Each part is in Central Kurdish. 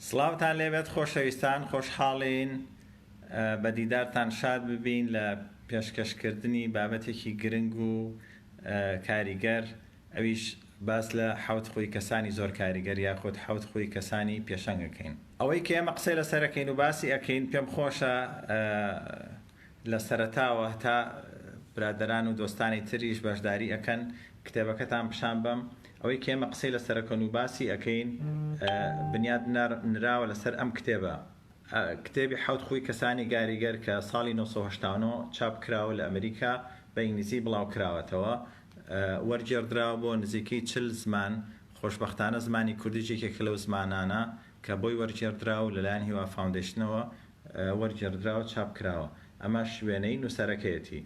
سڵاوتان لێبێت خۆشەویستان خۆشحاڵین بە دیدارتان شاد ببین لە پێشکەشکردنی بابەتێکی گرنگ و کاریگەر ئەویش باس لە حوت خۆی کەسانی زۆر کاریگەر یاخود حوت خۆی کەسانی پێشەنگەکەین ئەوەی کە ئێمە قسەی لەسەرەکەین و باسی ئەەکەین پێم خۆشە لە سەرەتاوە هەتا برادەران و دۆستانی تریش بەشداری ئەکەن کتێبەکەتان پشان بەم ئەوەی کە ئێمە قسەی لەسەر ئەکەن و باسی ئەکەین بنیاد نراوە لەسەر ئەم کتێبە کتێبی حەوت خووی کەسانی گاریگەر کە ساڵی نۆ سەد و هەشتا و نۆ چاپ کراوە لە ئەمریکا بە ئینگلیزی بڵاو کراوەتەوە وەرگێڕدراوە بۆ نزیکەی چل زمان خۆشبەختانە زمانی کوردیش یەکێکە لەو زمانانە کە بۆی وەرگێڕدراوە و لەلایەن هیوا فاوندەیشنەوە وەرگێڕدراوە چاپ کراوە ئەمەش وێنەی نووسەرەکەیەتی.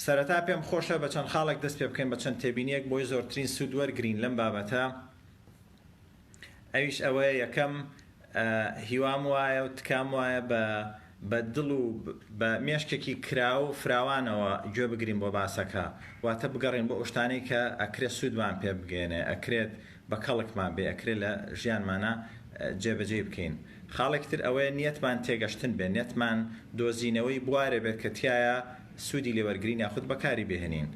سەرەتا پێم خۆشە بە چەند خاڵێک دەست پێ بکەین بە چەند تێبینیەک بۆی زۆرترین سوود وەرگرین لەم بابەتە ئەویش ئەوەیە یەکەم هیوام وایە و تکام وایە بە بە دڵ و بە مێشکێکی کراو و فراوانەوە گوێ بگرین بۆ باسەکە، واتە بگەڕێین بۆ ئەوشتانەی کە ئەکرێت سوودمان پێ بگەیەنێ، ئەکرێت بە کەڵکمان بێ، ئەکرێت لە ژیانمانا جێ بەجێی بکەین. خاڵێکی تر ئەوەیە نیەتمان تێگەشتن بێ، نیەتمان دۆزینەوەی بوارێ بێت کە تیایا سوودی لێ وەرگرین یاخود بە کاری بهێنین.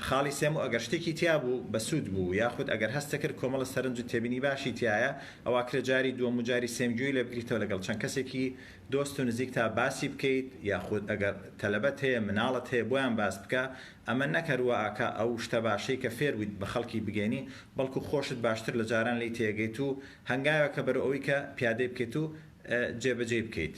خاڵی سێم ئەگەر شتێکی تیا بوو بە سوود بوو یاخود ئەگەر هەستت کرد کۆمەڵە سەرنج و تێبینی باشی تیایە ئەوا ئەکرێت جاری دووەم و جاری سێم گوێی لێ بگریتەوە لەگەڵ چەند کەسێکی دۆست و نزیکتا باسی بکەیت یاخود ئەگەر تەلەبەت هەیە مناڵت هەیە بۆیان باس بکە ئەمە نەک هەر وائەکا ئەو شتە باشەی کە فێر بویت بە خەڵکی بگەینی بەڵکو خۆشت باشتر لە جاران لێی تێگەیت و هەنگاوێکە بەرەو ئەوی کە پیادەی بکەیت و جێ بەجێی بکەیت.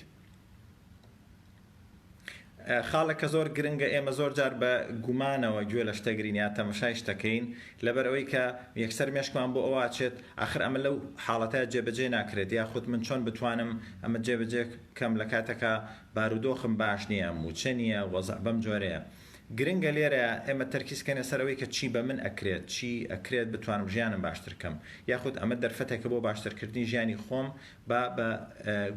خاڵێک کە زۆر گرنگە ئێمە زۆر جار بە گومانەوە گوێ لە شتە گرین یا تەمەشای شتەکەین لەبەر ئەوەی کە یەکسەر مێشکمان بۆ ئەوە ئەچێت ئاخر ئەمە لەو حاڵەتە جێبەجێ ناکرێت یا خود من چۆن بتوانم ئەمە جێبەجێ کەم لە کاتەکە بارودۆخم باش نییە موچە نییە وەزع بەم جۆرەیە گرنگە لێرە ئێمە تەرکیز کەنە سەر ئەوەی کە چی بە من ئەکرێت چی ئەکرێت بتوانم ژیانم باشتر کەم یاخود ئەمە دەرفەتێکە بۆ باشترکردنی ژیانی خۆم با بە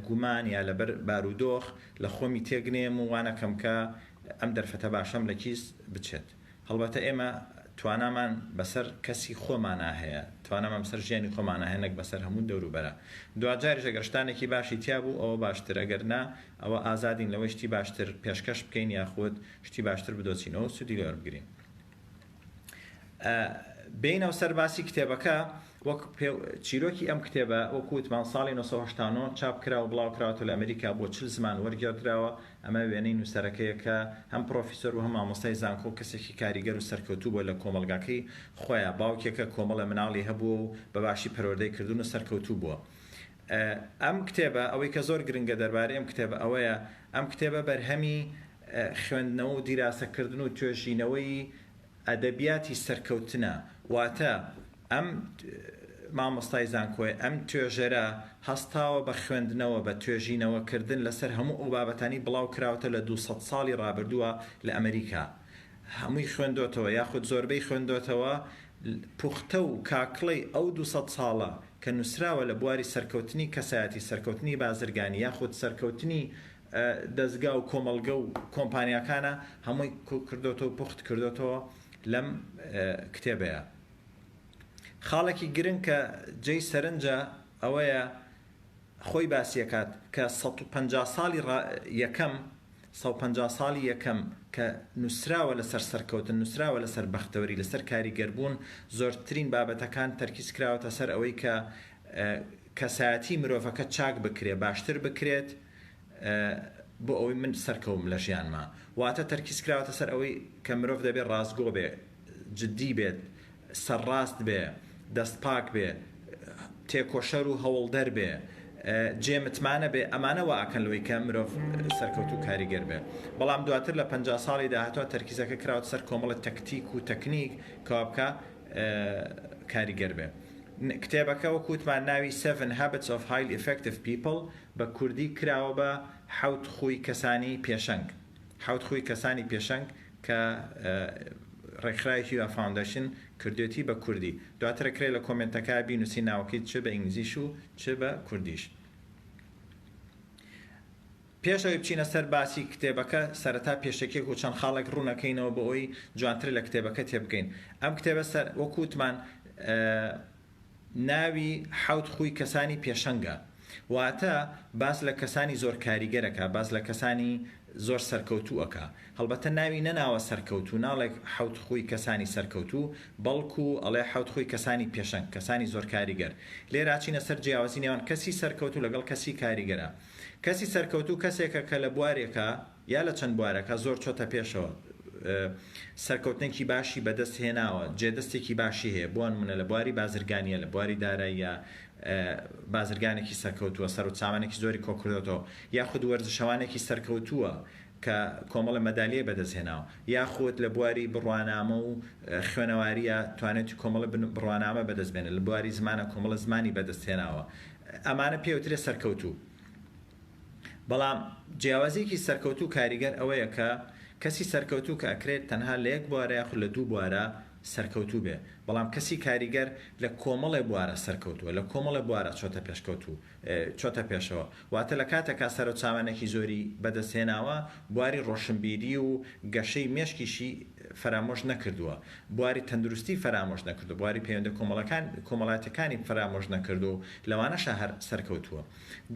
گومان یا لەبەر بارودۆخ لە خۆمی تێک نەیەم و وا نەکەم کە ئەم دەرفەتە باشەم لە کیس بچێت. هەڵبەتە ئێمە توانامان بەسەر کەسی خۆمانا هەیە، توانامان بەسەر ژیانی خۆمانا هەیە نەک بەسەر هەموو دەوروبەرە. دواجاریش ئەگەر شتانێکی باشی تیا بوو ئەوە باشتر، ئەگەر نا ئەوە ئازادین لەوەی شتی باشتر پێشکەش بکەین یاخود شتی باشتر بدۆزینەوە و سوودی لێوەربگرین. بێینەوە سەر باسی کتێبەکە، وەک چیرۆکی ئەم کتێبە وەکو وتمان ساڵی نۆ سەد و هەشتا و نۆ چاپ کرا و بڵاو کراوەتەوە لە ئەمریکا بۆ چل زمان وەرگێڕدراوە، ئەمە وێنەی نووسەرەکەیە کە هەم پڕۆفیسۆر و هەم مامۆستای زانکۆ و کەسێکی کاریگەر و سەرکەوتوو بووە لە کۆمەڵگاکەی خۆیان، باوکێکە کۆمەڵە مناڵی هەبووە و بە باشی پەروەردەی کردوون و سەرکەوتوو بووە. ئەم کتێبە ئەوەی کە زۆر گرنگە دەربارەی ئەم کتێبە ئەوەیە ئەم کتێبە بەرهەمی خوێندنەوە و دیراسەکردن و توێژینەوەی ئەدەبیاتی سەرکەوتنە، واتە ئەم مامۆستای زانکۆیە، ئەم توێژەرە هەستاوە بە خوێندنەوە، بە توێژینەوەکردن لەسەر هەموو ئەو بابەتانەی بڵاوکراوەتەوە لە دوو سەد ساڵی ڕابردووە لە ئەمریکا، هەمووی خوێندۆتەوە یاخود زۆربەی خوێندۆتەوە، پوختە و کاکڵەی ئەو دوو سەد ساڵە کە نووسراوە لە بواری سەرکەوتنی کەسایەتی، سەرکەوتنی بازرگانی یاخود سەرکەوتنی دەزگا و کۆمەڵگە و کۆمپانیاکانە هەمووی کردۆتە و پوخت کردۆتەوە لەم کتێبەیا خاڵێکی گرنگ کە جێی سەرنجە ئەوەیە خۆی باسیەکات کە سەد و پەنجا ساڵی یەکەم سەد و پەنجا ساڵی یەکەم کە نووسراوە لەسەر سەرکەوتن نووسراوە لەسەر بەختەوەری لەسەر کاریگەربوون زۆرترین بابەتەکان تەرکیز کراوەتە سەر ئەوەی کە کەسایەتی مرۆڤەکە چاک بکرێ باشتر بکرێت بۆ ئەوەی من سەرکەوم لە ژیانما واتە تەرکیز کراوەتە سەر ئەوەی کە مرۆڤ دەبێ ڕاستگۆ بێ جدی بێت سەرڕاست بێ دەست پاک بێ تێکۆشەر و هەوڵدەر بێ جێ متمانە بێ ئەمانە وا ئەکەن لەوەی کە مرۆڤ سەرکەوت و کاریگەر بێ بەڵام دواتر لە پ ساڵی داهاتوە تەرکیزەکە کراوەتە سەر کۆمەڵە تەکتیک و تەکنیک کەوا بکە کاریگەر بێ کتێبەکە وەکوتمان ناوی 7 Habits of Highly Effective People بە کوردی کراوە بە، حەوت خووی کەسانی پێشەنگ، حەوت خووی کەسانی پێشەنگ، کە ڕێکخراوی هیوا فاوندەشن کردوێتی بە کوردی. دواتر ئەکرێ لە کۆمێنتەکا بینووسی ناوەکەی چ بە ئینگلیزیش و چ بە کوردیش. پێش ئەوەی بچینە سەر باسی کتێبەکە سەرەتا پێشەکیەک و چەند خاڵێک ڕوونەکەینەوە بۆ ئەوەی جوانتر لە کتێبەکە تێبگەین. ئەم کتێبە سەر وەکو وتمان ناوی حەوت خووی کەسانی پێشەنگە واتە باس لە کەسانی زۆر کاریگەر ئەکا باس لە کەسانی زۆر سەرکەوتوو ئەکا هەڵبەتە ناوی نەناوە سەرکەوتوو ناڵێ حەوت خووی کەسانی سەرکەوتوو بەڵکو ئەڵێ حەوت خووی کەسانی پێشەنگ کەسانی زۆر کاریگەر لێرا ئەچینە سەر جیاوازی نێوان کەسی سەرکەوتوو لەگەڵ کەسی کاریگەرا کەسی سەرکەوتوو کەسێکە کە لە بوارێکا یا لە چەند بوارەکا زۆر چۆتە پێشەوە سەرکەوتنێکی باشی بەدەست هێناوە جێدەستێکی باشی هەیە بۆنمونە لە بواری بازرگانیە لە بواری داراییە بازرگانێکی سەرکەوتووە سەر و چاوانێکی زۆری کۆکردۆتەوە یاخود وەرزشەوانێکی سەرکەوتووە کە کۆمەڵە مەدالیای بەدەست هێناوە یاخود لە بواری بڕوانامە و خوێنەواریە توانێتی کۆمەڵە بڕوانامە بەدەست بێنە لە بواری زمانە کۆمەڵە زمانی بەدەست هێناوە ئەمانە پێوترێ سەرکەوتوو. بەڵام جیاوازیەکی سەرکەوتوو کاریگەر ئەوەیە کە کەسی سەرکەوتوو کە ئەکرێت تەنها لە یەک بوارە یاخود لە دوو بوارە سەرکەوتوو بێ بەڵام کەسی کاریگەر لە کۆمەڵێ بوارە سەرکەوتووە لە کۆمەڵێ بوارە چۆتە پێشکەوتوو چۆتە پێشەوە واتە لە کاتەکا سەرو چاوانێکی زۆری بەدەست هێناوە بواری ڕۆشنبیری و گەشەی مێشکیشی فەرامۆش نەکردووە بواری تەندروستی فەرامۆش نەکردو بواری پەیوەندە کۆمەڵەکان کۆمەڵاتەکانی فەرامۆش نەکردو لەوانەشە هەر سەرکەوتووە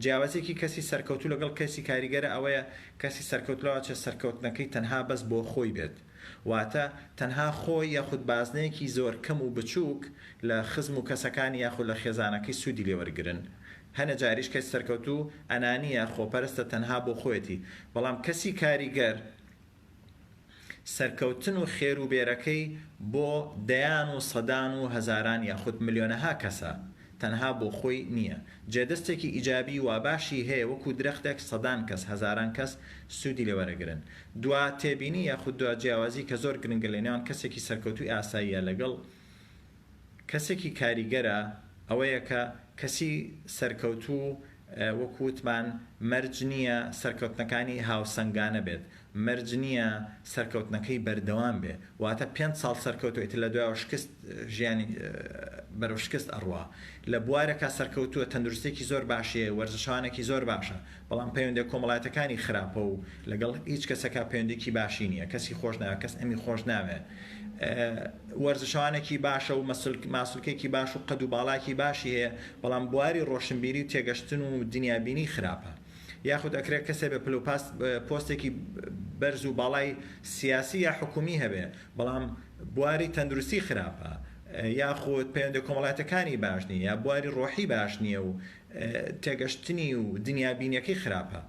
جیاوازیەکی کەسی سەرکەوتوو لەگەڵ کەسی کاریگەرە ئەوەیە کەسی سەرکەوت لەوەچێت سەرکەوتنەکەی تەنها بەس بۆ خۆی بێت واتە تەنها خۆی یاخود بازنەیەکی زۆر کەم و بچوک لە خزم و کەسەکانی یاخود لە خێزانەکەی سودی لێ وەرگرن هەنێ جاریش کەسی سەرکەوتوو ئەنانیە خۆپەرستە تەنها بۆ خۆیەتی بەڵام کەسی کاریگەر سەرکەوتن و خێرو بێرەکەی بۆ دەیان و سەدان و هەزاران یاخود ملیۆنەها کەسە تەنها بۆ خۆی نیە جێدەستێکی ئیجابی واباشی هەیە وەکو درەختێک سەدان کەس هەزاران کەس سودی لێوەرەگرن دوا تێبینی یاخود دوا جیاوازی کە زۆر گرنگە لەنێوان کەسێکی سەرکەوتوی ئاساییە لەگەڵ کەسێکی کاریگەرە ئەوەیە کە کەسی سەرکەوتوو وەکو وتمان مەرج نییە سەرکەوتنەکانی هاوسەنگانە بێت، مەرج نییە سەرکەوتنەکەی بەردەوام بێ، واتە پێنج ساڵ سەرکەوتووە ئیتر لە دوایەوە شکست ژیانی بەرەو شکست ئەڕوا، لە بوارێکا سەرکەوتووە تەندروستیەکی زۆر باشی هەیە، وەرزشەوانێکی زۆر باشە، بەڵام پەیوەندە کۆمەڵایەتەکانی خراپە و لەگەڵ هیچ کەسەکا پەیوەندیکی باشی نیە کەسی خۆش ناوێ کەس ئەمی خۆش ناوێ وەرزشەوانێکی باشە و ماسولکێکی باش و قەد و باڵاکی باشی هەیە بەڵام بواری ڕۆشنبیری و تێگەشتن و دنیابینی خراپە یاخود ئەکرێت کەسێ بە پلو پاست پۆستێکی بەرز و باڵای سیاسی یا حکومی هەبێ بەڵام بواری تەندروستی خراپە یاخود پەیوەندە کۆمەڵاتەکانی باش نیە یا بواری ڕۆحی باش نیە و تێگەشتنی و دنیابینیەکەی خراپە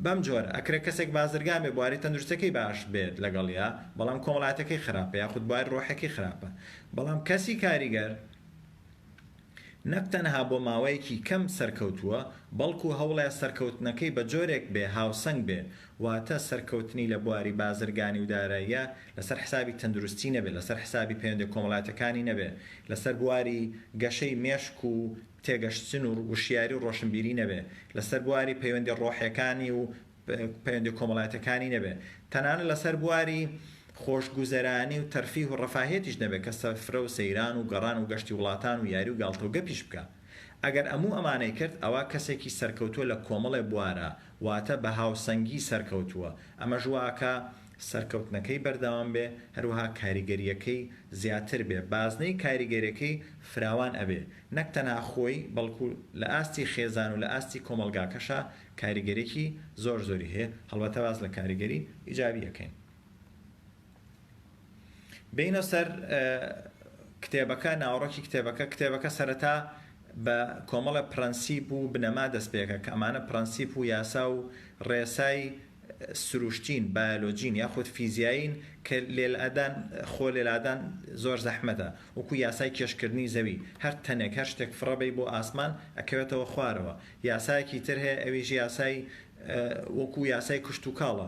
بەم جۆرە ئەکرێ کەسێک بازرگان بێ بواری تەندروستەکەی باش بێت لەگەڵیا بەڵام کۆمەڵاتەکەی خراپە یاخود بواری ڕۆحەکەی خراپە بەڵام کەسی کاریگەر نەک تەنها بۆ ماوەیەکی کەم سەرکەوتووە بەڵکو هەوڵێ سەرکەوتنەکەی بە جۆرێک بێ هاوسەنگ بێ واتە سەرکەوتنی لە بواری بازرگانی و داراییە لەسەر حسابی تەندروستی نەبێت، لەسەر حسابی پەیوەندیە کۆمەڵاتەکانی نەبێت، لەسەر بواری گەشەی مێشک و تێگەشتن و وشیاری و ڕۆشنبیری نەبێت، لەسەر بواری پەیوەندیە ڕۆحیەکانی و پەیوەندیە کۆمەڵاتەکانی نەبێت، تەنانەت لەسەر بواری خۆشگوزەرانی و تەرفیه و ڕەفاهیەتیش نەبێت کە سفرە و سەیران و گەڕان و گەشتی وڵاتان و یاری و گاڵتە و گەپیش بکات ئەگەر ئەموو ئەمانەی کرد ئەوا کەسێکی سەرکەوتوە لە کۆمەڵێ بوارا واتە بە هاوسەنگی سەرکەوتووە، ئەمەش واکا سەرکەوتنەکەی بەردەوام بێ، هەروەها کاریگەرییەکەی زیاتر بێ، بازنەی کاریگەرێکەی فراوان ئەبێ، نەک تەنها خۆی بەڵکو لە ئاستی خێزان و لە ئاستی کۆمەڵگاکەشا کاریگەرێکی زۆر زۆری هەیە، هەڵبەتە باس لە کاریگەری ئیجابی ئەکەین. بێینە سەر کتێبەکە، ناوەڕۆکی کتێبەکە، کتێبەکە سەرەتا بە کۆمەڵە پرەنسیپ و بنەما دەستپێکە کە ئەمانە پرەنسیپ و یاسا و ڕێسای سروشتین، بایۆلۆجین یاخود فیزیایین کە لێلادان خۆ لێلادان زۆر زەحمەتە، وەکو یاسای کێشکردنی زەوی، هەر تەنێک هەر شتێک فڕەبەی بۆ ئاسمان ئەکەوێتەوە خوارەوە، یاسایەکی تر هەیە ئەویش یاسای وەکو یاسای کشتوکاڵە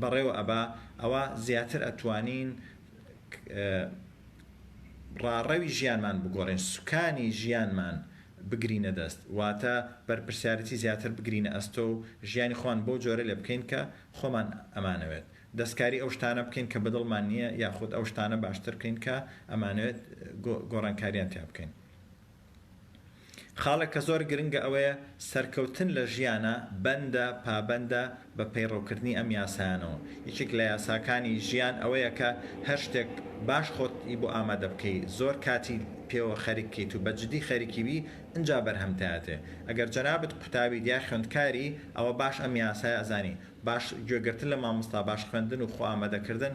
بەڕێوە ئەبا ئەوا زیاتر ئەتوانین ڕاڕەوی ژیانمان بگۆڕین سوکانی ژیانمان بگرینە دەست واتە بەرپرسیارەتی زیاتر بگرینە ئەستۆ و ژیانی خۆمان بەو جۆرە لێ بکەین کە خۆمان ئەمانەوێت دەستکاری ئەو شتانە بکەین کە بەدڵمان نییە یاخود ئەو شتانە باشتر بکەین کە ئەمانەوێت گۆڕانکاریان تیا بکەین. خاڵێک کە زۆر گرنگە ئەوەیە سەرکەوتن لە ژیانا بەندە، پابەندە، بە پەیڕەوکردنی ئەم یاسایانەوە. یەکێک لە یاساکانی ژیان ئەوەیە کە هەر شتێک باش خۆت ی بۆ ئامادە بکەی، زۆر کاتی پێوە خەرک کەیت و بە جدی خەرکی بی ئنجا بەرهەمت ئەتێ. ئەگەر جەنابت قوتابیت یا خوێندکاری ئەوە باش ئەم یاسایە ئەزانی. باش گوێگرتن لە مامۆستا، باش خوێندن و خۆ ئامادەکردن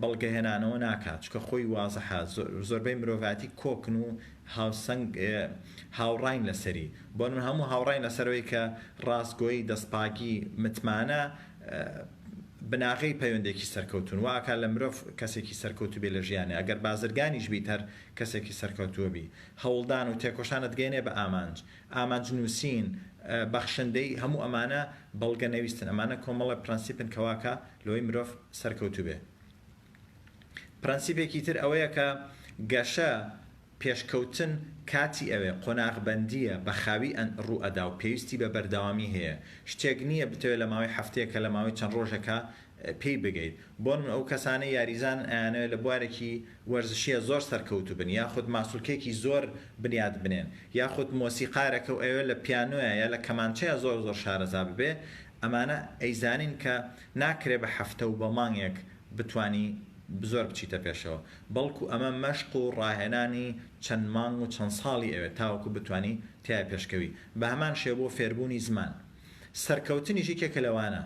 بەڵگەهێنانەوە ناکات چونکە خۆی وازحە زۆربەی مرۆڤاتی کۆکن و هاوسەنگ هاوڕاین لەسەری بۆ من هەموو هاوڕای لەسەرەوەی کە ڕاستگۆی دەستپاگی متمانە بناغەی پەیوەندێکی سەرکەوتون واکە لە مرۆڤ کەسێکی سەرکەوتو بێ لە ژیانە ئەگەر بازرگانیش بیت هەر کەسێکی سەرکەوتووە بی هەوڵدان و تێکۆشانت گەێنێ بە ئامانج ئامانج نووسین بەخشندەی هەموو ئەمانە بەڵگە نەویستن ئەمانە کۆمەڵە پرەنسیپن کەواکە لۆی مرۆڤ سەرکەوتوبێ. پرەنسیپێکی تر ئەوەیە کە گەشە، پێشکەوتن کاتی ئەوێ، قۆناغبەندییە، بە خاوی ڕوو ئەدا و پێویستی بە بەردەوامی هەیە. شتێک نییە بتەوێ لە ماوەی هەفتەیەک کە لە ماوەی چەند ڕۆژێکا پێی بگەیت. بۆنموونە ئەو کەسانەی یاریزانن ئەیانەوێ لە بوارێکی وەرزشیە زۆر سەرکەوتوبن یاخود ماسولکەیەکی زۆر بنیات بنێن یاخود مۆسیقارێکە و ئەوێ لە پیانۆیە یا لە کەمانچەیە زۆر زۆر شارەزا ببێ ئەمانە ئەیزانین کە ناکرێ بە هەفتە و بە مانگێک بتوانی زۆر بچیتە پێشەوە بەڵکو ئەمە مەشق و ڕاهێنانی چەند مانگ و چەند ساڵی ئەوێ تاوەکو بتوانی تیا پێشکەوی بە هەمان شێوە بۆ فێربوونی زمان سەرکەوتنیش یەکێکە لەوانە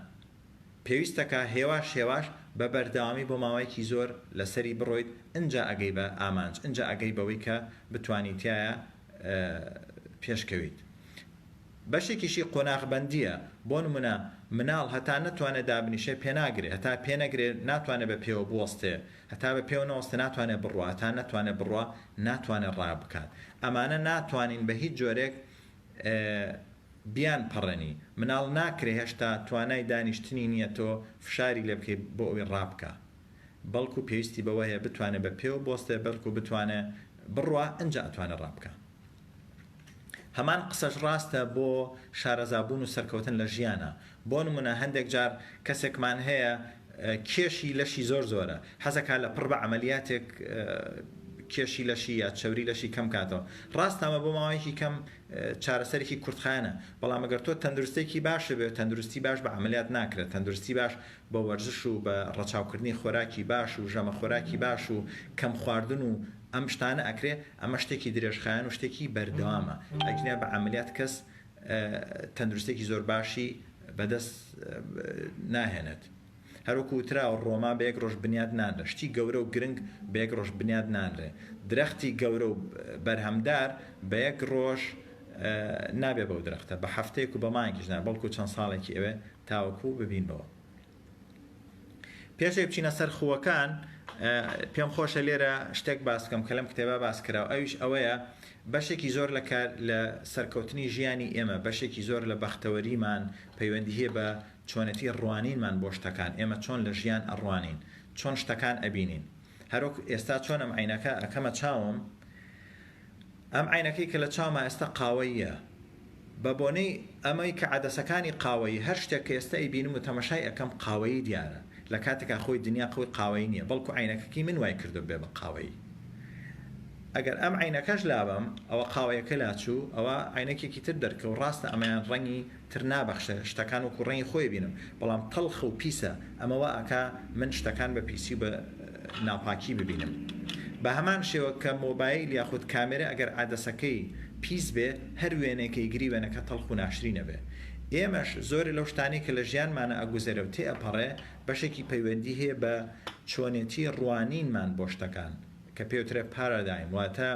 پێویستە کە هێواش هێواش بە بەردەوامی بۆ ماوەیەکی زۆر لە سەری بڕۆیت ئنجا ئەگەی بە ئامانج ئنجا ئەگەی بەوەی کە بتوانی تیایا پێش کەویت بەشێکیشی قۆناغ بەندیە بۆ نمونە مناڵ هەتا نەتوانێ دابنیشێ پێناگرێ هەتا پێ نەگرێ ناتوانێ بە پێوە بوەستێ هەتا بە پێوە نەوەستێ ناتوانێ بڕوا هەتا نەتوانێ بڕوا ناتوانێ ڕا بکات ئەمانە ناتوانین بە هیچ جۆرێک بیان پەڕێنی مناڵ ناکرێ هێشتا توانای دانیشتنی نیە تۆ فشاری لێ بکەی بۆ ئەوەی ڕابکا بەڵکو پێویستی بەوە هەیە بتوانێ بە پێوە بۆستێ بەلکو بتوانێ بڕوا ئنجا ئەتوانێ ڕابکا هەمان قسەش ڕاستە بۆ شارەزابوون و سەرکەوتن لە ژیانا بۆ نمونە هەندێک جار کەسێکمان هەیە کێشی لەشی زۆر زۆرە حەزەکا لە پڕ بە عەمەلیاتێک کێشی لەشی یا چەوری لەشی کەم کاتەوە ڕاستەمە بۆ ماوەیەکی کەم چارەسەرێکی کورتخانە بەڵام ئەگەر تۆ تەندروستێکی باش بێت تەندروستی باش بە عملیات ناکرێت تەندروستی باش بە وەرزش و بە ڕەچاوکردنی خۆراکی باش و ژەمە خۆراکی باش و کەم خواردن و ئەم شتانە ئەکرێ ئەمە شتێکی درێژخایەن و شتێکی بەردەوامە ئەگینا بە عملیات کەس تەندروستێکی زۆر باشی بەدەست ناهێنێت. هەروەکو وتراوە ڕۆما بە یەک ڕۆژ بنیات نانرێ، شتی گەورە و گرنگ بە یەک ڕۆژ بنیات نانرێ، درەختی گەورە و بەرهەمدار بە یەک ڕۆژ نابێ بەو درەختە، بە هەفتەیەک و بە مانگیش نا، بەڵکو چەند ساڵێکی ئەوێ تاوەکو ببینبەوە. پێش ئەوەی بچینە سەر خووەکان پێم خۆشە لێرە شتێک باس بکەم کە لەم کتێبا باس کراوە ئەویش ئەوەیە بەشێکی زۆر لە کار لە سەرکەوتنی ژیانی ئێمە بەشێکی زۆر لە بەختەوەریمان پەیوەندی هەیە بە چۆنەتی ڕوانینمان بۆ شتەکان ئێمە چۆن لە ژیان ئەڕوانین چۆن شتەکان ئەبینین هەرۆک ئێستا چۆنم عینەکە ئەکەمە چاوم ئەم عەینەکەی کە لە چاوما ئێستا قاوەییە، بە بۆنەی ئەمەی کە عەدەسەکانی قاوەیی، هەر شتێک کە ئێستا ئەیبینم و تەمەشای ئەکەم قاوەیی دیارە، لە کاتێکا خۆی دنیا قوی قاوەیی نیە، بەڵکو عەینەکەکی من وای کردوە ببێ بە قاوەیی. ئەگەر ئەم عەینەکەش لابەم، ئەوە قاوەیەکە لاچوو، ئەوا عەینەکێکی تر دەرکەوت، ڕاستە ئەمەیان ڕەنگی تر نابەخشێ شتەکان وەکو ڕەنگی خۆی بینم بەڵام تەڵخە و پیسە ئەمە وا ئەکا من شتەکان بە پیسی و بە ناپاکی ببینم بە هەمان شێوە کە مۆبایل یاخود کامێرە ئەگەر عەدەسەکەی پیس بێ هەر وێنەیکە ئیگری وێنەکە تەڵخ و ناشرین ئەبێ ئێمەش زۆرێ لەو شتانەی کە لە ژیانمانا ئەگوزەرێ و تێ ئەپەڕێ بەشێکی پەیوەندی هەیە بە چۆنێتی ڕوانینمان بۆ شتەکان کە پێوترێ پارادایم واتە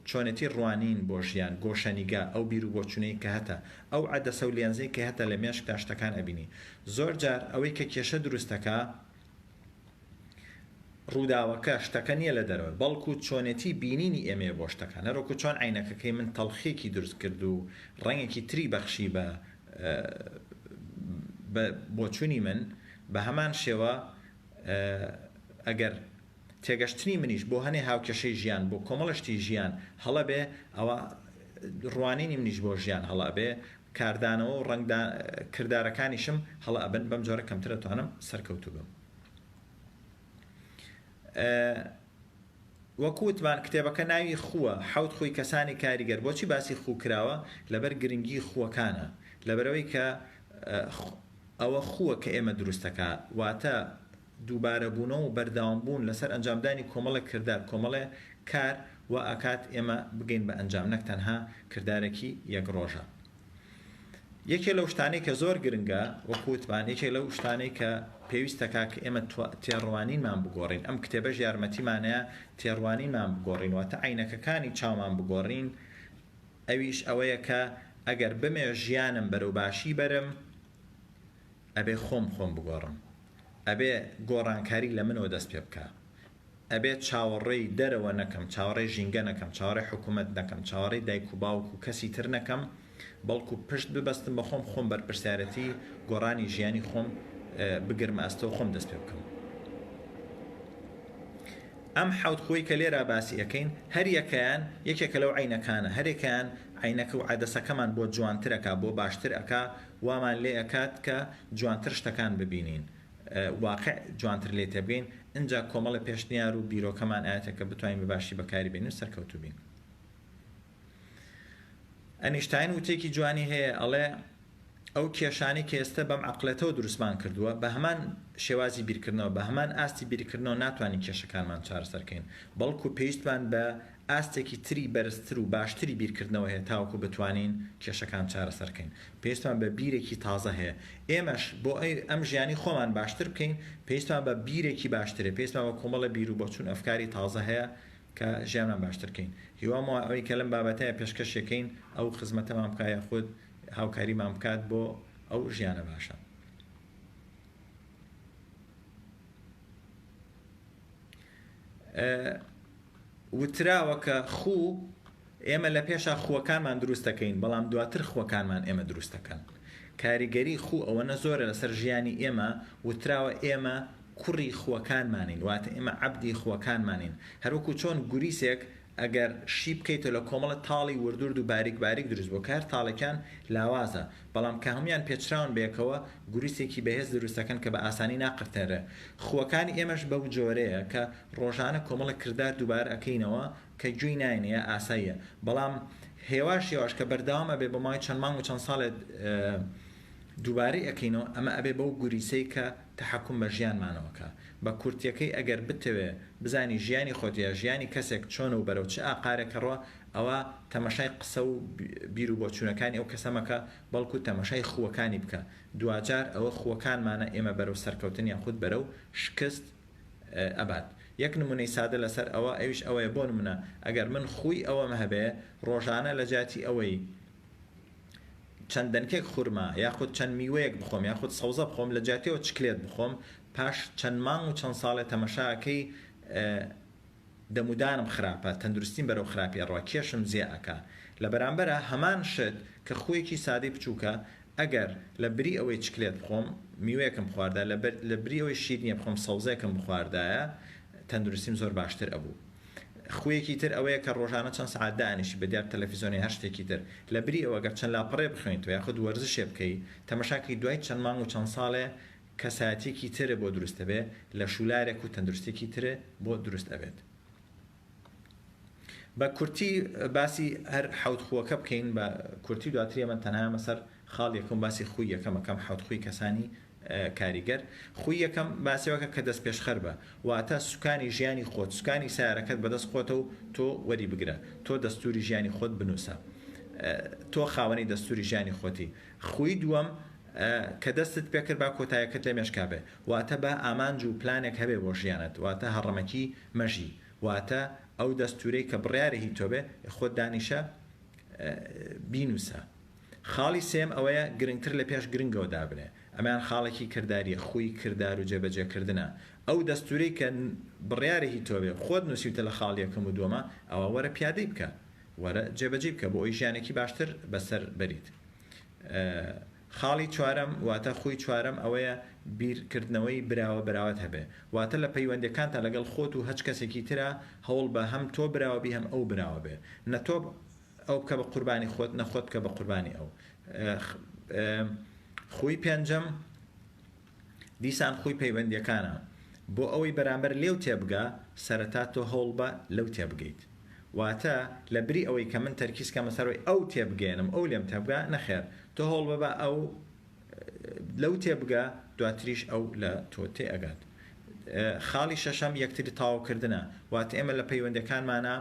چۆنێتی ڕوانین بۆ ژیان، گۆشەنیگا، ئەو بیر و بۆچونەی کە هەتە، ئەو عەدەسە و لێنزەی کە هەتە لە مێشکدا شتەکان ئەبینی. زۆر جار ئەوەی کە کێشە دروست دەکا ڕووداوەکە، شتەکە نیە لە دەرەوەی، بەڵکو چۆنێتی بینینی ئێمەیە بۆ شتەکان. هەروەکو چۆن عەینەکەکەی من تەڵخیەکی دروست کرد و ڕەنگێکی تری بەخشی بە بۆچونی من، بە هەمان شێوە ئەگەر تێگەشتنی منیش بۆ هەنێ هاوکێشەی ژیان، بۆ کۆمەڵە شتی ژیان هەڵە بێ، ئەوا ڕوانینی منیش بۆ ژیان هەڵە ئەبێ، کاردانەوە و ڕەنگ دان کردارەکانیشم هەڵە ئەبن، بەم جۆرە کەمتر ئەتوانم سەرکەوتوو بم. وەکو وتمان کتێبەکە ناوی خووە، حەوت خووی کەسانی کاریگەر، بۆچی باسی خوو کراوە؟ لەبەر گرنگی خووەکانە، لەبەرئەوەی کە ئەوە خووە کە ئێمە دروست ئەکا، واتە، دووبارەبوونەوە و بەردەوامبوون لەسەر ئەنجامدانی کۆمەڵێک کردار، کۆمەڵێ کار وا ئەکات ئێمە بگەین بە ئەنجام نەک تەنها کردارێکی یەک ڕۆژە. یەکێ لەو شتانەی کە زۆر گرنگە وەکو وتمان یەکێ لەو شتانەی کە پێویستەکا کە ئێمە تێڕوانینمان بگۆڕین ئەم کتێبەش یارمەتیمانەیە تێڕوانینمان بگۆڕین واتە عەینەکەکانی چاومان بگۆڕین ئەویش ئەوەیە کە ئەگەر بمێ ژیانم بەرەو باشی بەرم ئەبێ خۆم خۆم بگۆڕم، ئەبێ گۆڕانکاری لە منەوە دەست پێ بکا، ئەبێ چاوەڕێی دەرەوە نەکەم، چاوەڕێی ژینگە نەکەم، چاوەڕێی حکوومەت نەکەم، چاوەڕێی دایک و باوک و کەسی تر نەکەم، بەڵکوو پشت ببەستم بە خۆم، خۆم بەرپرسیارێتی گۆڕانی ژیانی خۆم بگرمە ئەستۆ و خۆم دەست پێ بکەم. ئەم حەوت خووەی کە لێرا باسی ئەکەین هەر یەکەیان یەکێکە لەو عەینەکانە، هەر یەکەیان عەینەکە و عەدەسەکەمان بۆ جوانتر ئەکا، بۆ باشتر ئەکا وامان لێ ئەکات کە جوانتر شتەکان ببینین واقع جوانتر لێی تێبگەین ئنجا کۆمەڵێ پێشنیار و بیرۆکەمان ئەیەتە کە بتوانین بە باشی بەکاری بێنین و سەرکەوتوو بین ئەنیشتاین وتێکی جوانی هەیە ئەڵێ ئەو کێشانی کە ئێستا بەم عقلێتەوە دروستمان کردووە بە هەمان شێوازی بیرکردنەوە بە هەمان ئاستی بیرکردنەوە ناتوانین کێشەکانمان چارەسەرکەین بەڵکو پێویستمان بە ئاستێکی تری بەرزتر و باشتری بیرکردنەوە هەیە تاوەکو بتوانین کێشەکان چارەسەر کەین. پێویستمان بە بیرێکی تازە هەیە. ئێمەش بۆ ئەوی ئەم ژیانی خۆمان باشتر بکەین، پێویستمان بە بیرێکی باشتر هەیە. پێویستمان بە کۆمەڵە بیرو بۆچون و ئەفکاری تازە هەیە کە ژیانمان باشتر کەین. هیوام وایە ئەوی کە لەم بابەتەیە پێشکەشی کەین ئەو خزمەتەمان بکات یاخود هاوکاریمان بکات بۆ ئەو ژیانە باشە. وتراوە کە خوو ئێمە لە پێشا خووەکانمان دروست دەکەین بەڵام دواتر خووەکانمان ئێمە دروست دەکەن کاریگەری خوو ئەوەنە زۆرە لەسەر ژیانی ئێمە وتراوە ئێمە کوڕی خووەکانمانین واتە ئێمە عەبدی خووەکانمانین هەروەکو چۆن گوریسێک ئەگەر شی بکەیتەوە لە کۆمەڵە تاڵی وردورد و باریک باریک دروست بووە کە هەر تاڵێکیان لاوازە بەڵام کە هەموویان پێچراون بەیەکەوە گوروسێکی بەهێز دروست دەکەن کە بە ئاسانی ناقرتێنرێ خووەکانی ئێمەش بەو جۆرەیە کە ڕۆژانە کۆمەڵە کردار دووبارە ئەکەینەوە کە گوێی ناینێ ئاساییە بەڵام هێواش هێواش کە بەردەوام ئەبێ بۆ ماوەی چەند مانگ و چەند ساڵێ دووبارەی ئەکەینەوە ئەمە ئەبێ بەو گوریسەی کە تەحەکوم بە ژیانمانەوە کە. بە کورتیەکەی ئەگەر بتەوێ بزانی ژیانی خۆت یا ژیانی کەسێک چۆنە و بەرەو چ ئاقارێک ئەڕوا ئەوا تەمەشای قسە و بیر و بۆچوونەکانی ئەو کەسە مەکە بەڵکو تەمەشای خووەکانی بکە دواجار ئەوە خووەکانمانە ئێمە بەرەو سەرکەوتن یاخود بەرەو شکست ئەبات یەک نموونەی سادە لەسەر ئەوە ئەویش ئەوەیە بۆ نموونە ئەگەر من خووی ئەوەم هەبێ ڕۆژانە لەجیاتی ئەوەی چەند دەنکێک خورما یاخود چەند میوەیەک بخۆم یاخود سەوزە بخۆم لە جیاتیەوە چکلێت بخۆم پاش چەند مانگ و چەند ساڵێ تەمەشاکەی دەمودانم خراپە تەندروستیم بەرەو خراپی ئەڕوا کێشم زێ ئەکا لە بەرامبەرا هەمان شت کە خویەکی سادەی بچوکە ئەگەر لە بری ئەوەی چکلێت بخۆم میوەیەکم بخواردایە لە بری ئەوەی شیرنیە بخۆم سەوزەیەکم بخواردایە تەندروستیم زۆر باشتر ئەبوو. خوویەکی تر ئەوەیە کە ڕۆژانە چەند سەعات دائەنیشی بە دیار تەلەفیزۆن یا هەر شتێکی تر. لە بری ئەوە گەر چەند لاپەڕەیە بخوێنیتەوە یاخود وەرزشێ بکەی، تەمەشا کەی دوای چەند مانگ و چەند ساڵێ کەسایەتیەکی تر بۆ دروست ئەبێ لە شوولارێک و تەندروستیەکی تر بۆ دروست ئەبێت. بە کورتی باسی هەر حەوت خووەکە بکەین بە کورتی و دواتر یەمن تەنها یەمە سەر خاڵ یەکەم و باسی خووی یەکەم ئەکەم حەوت خووی کەسانی کاریگەر، خووی یەکەم باسیاوەکە کە دەستپێشخەر بە، واتە سوکانی ژیانی خۆت، سوکانی سەیارەکەت بەدەست خۆتە و تۆ وەریبگرە، تۆ دەستووری ژیانی خۆت بنووسە، تۆ خاوەنی دەستووری ژیانی خۆتی، خووی دووەم کە دەستت پێکرد با کۆتایەکەت لەمێشکا بێ، واتە با ئامانج و پلانێک هەبێ بۆ ژیانت، واتە هەڕەمەکی مەژی، واتە ئەو دەستوورەی کە بڕیارە هی تۆ بێ، خۆت دانیشە بینووسە. خاڵی سێیەم ئەوەیە گرنگتر لە پێش گرنگەوە دابنێ، ئەمەیان خاڵێکی کردارییە، خووی کردار و جێبەجێکردنە، ئەو دەستوورەی کە بڕیارە هی تۆ بێ و خۆت نووسیوتە لە خاڵ یەکەم و دووەما، ئەوا وەرە پیادەی بکە، وەرە جێبەجێی بکە، بۆ ئەوەی ژیانێکی باشتر بەسەر بەریت. خاڵی چوارەم واتە خووی چوارەم ئەوەیە بیرکردنەوەی براوە براوەت هەبێ، واتە لە پەیوەندییەکانتا لەگەڵ خۆت و هەچ کەسێکی ترا هەوڵ بە هەم تۆ براوە بی هەم ئەو براوە بێ، نە تۆ ئەو بکە بە قوربانی خۆت نە خۆت بکە بە قوربانی ئەو. خووی پێنجەم، دیسان خووی پەیوەندییەکانە، بۆ ئەوەی بەرامبەر لێو تێبگا سەرەتا تۆ هەوڵ بە لەو تێبگەیت. واتە، لە بری ئەوەی کە من تەرکیز کەمە سەر ئەوەی ئەو تێبگەیەنم ئەو لێم تێبگا، نەخێر تۆ هەوڵ بە با ئەو لەو تێبگا دواتریش ئەو لە تۆ تێئەگات. خاڵی شەشەم یەکتری تاوکردنە، واتە ئێمە لە پەیوەندییەکانمانا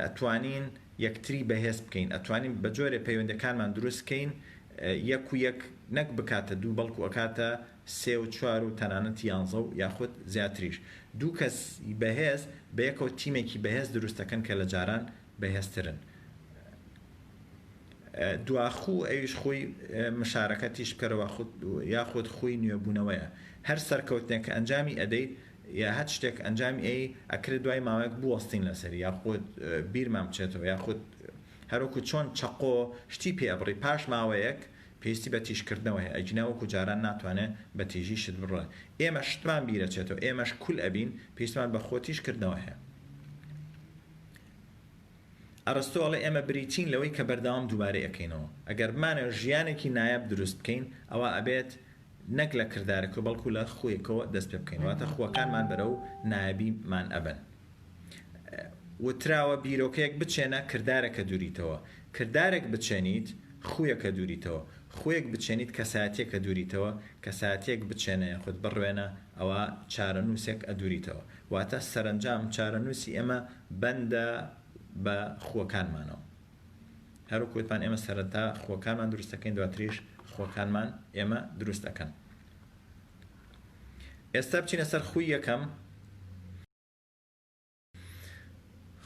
ئەتوانین یەکتری بەهێز بکەین، ئەتوانین بەجۆرێ پەیوەندیەکانمان دروست کەین یەک و یەک نەک بکاتە دوو بەڵکو ئەکاتە سێ و چوار و تەنانەت یانزە و یاخود زیاتریش، دوو کەس ی بەهێز بەیەکەوە تیمێکی بەهێز دروست ئەکەن کە لە جاران بەهێزترن. دواخو ئەویش خوی مشارەکەتیش بکەرەوە یاخود خوی نوێبونەوەیە، هەر سەرکەوتنێک کە ئەنجامی ئەدەیت یا هەچ شتێک ئەنجامی ئەی ئەکرێت دوای ماوەیەک بوەستین لەسەری یاخود بیرمان بچێتەوە یاخود هەروەکو چۆن چەقۆ شتی پێ ئەبڕی پاش ماوەیەک پێویستی بە تیژکردنەوە هەیە ئەگینا وەکو جاران ناتوانێ بە تیژی شت بڕێ ئێمە شتمان بیرەچێتەوە ئێمەش کول ئەبین پێویستمان بە خۆ تیژکردنەوە هەیە ئەرستۆ ئەڵێ ئێمە بریتین لەوەی کە بەردەوام دووبارەی ئەکەینەوە ئەگەر بمانە ژیانێکی نایاب دروست بکەین ئەوە ئەبێت نەک لە کردارەکەوە بەڵکو لە خووێکەوە دەست پێ بکەین واتە خووەکانمان بەرەو نایابی مان ئەبەن وتراوە بیرۆکەیەک بچێنە کردارەکە دووریتەوە کردارێک بچێنیت خوویەکە دووریتەوە خووێک بچێنیت کەساتیەکە دووریتەوە کەساتێک بچێنە یاخود بڕوێنە ئەوا چارەنووسێک ئەدووریتەوە واتە سەرەنجام چارەنووسی ئێمە بەندە بە خووەکانمانەوە. هەروەک وتمان ئێمە سەرەتا خوەکانمان دروست دەکەین دواتریش خوەکانمان ئێمە دروست ئەکەن ئێستا بچینە سەر خوی یەکەم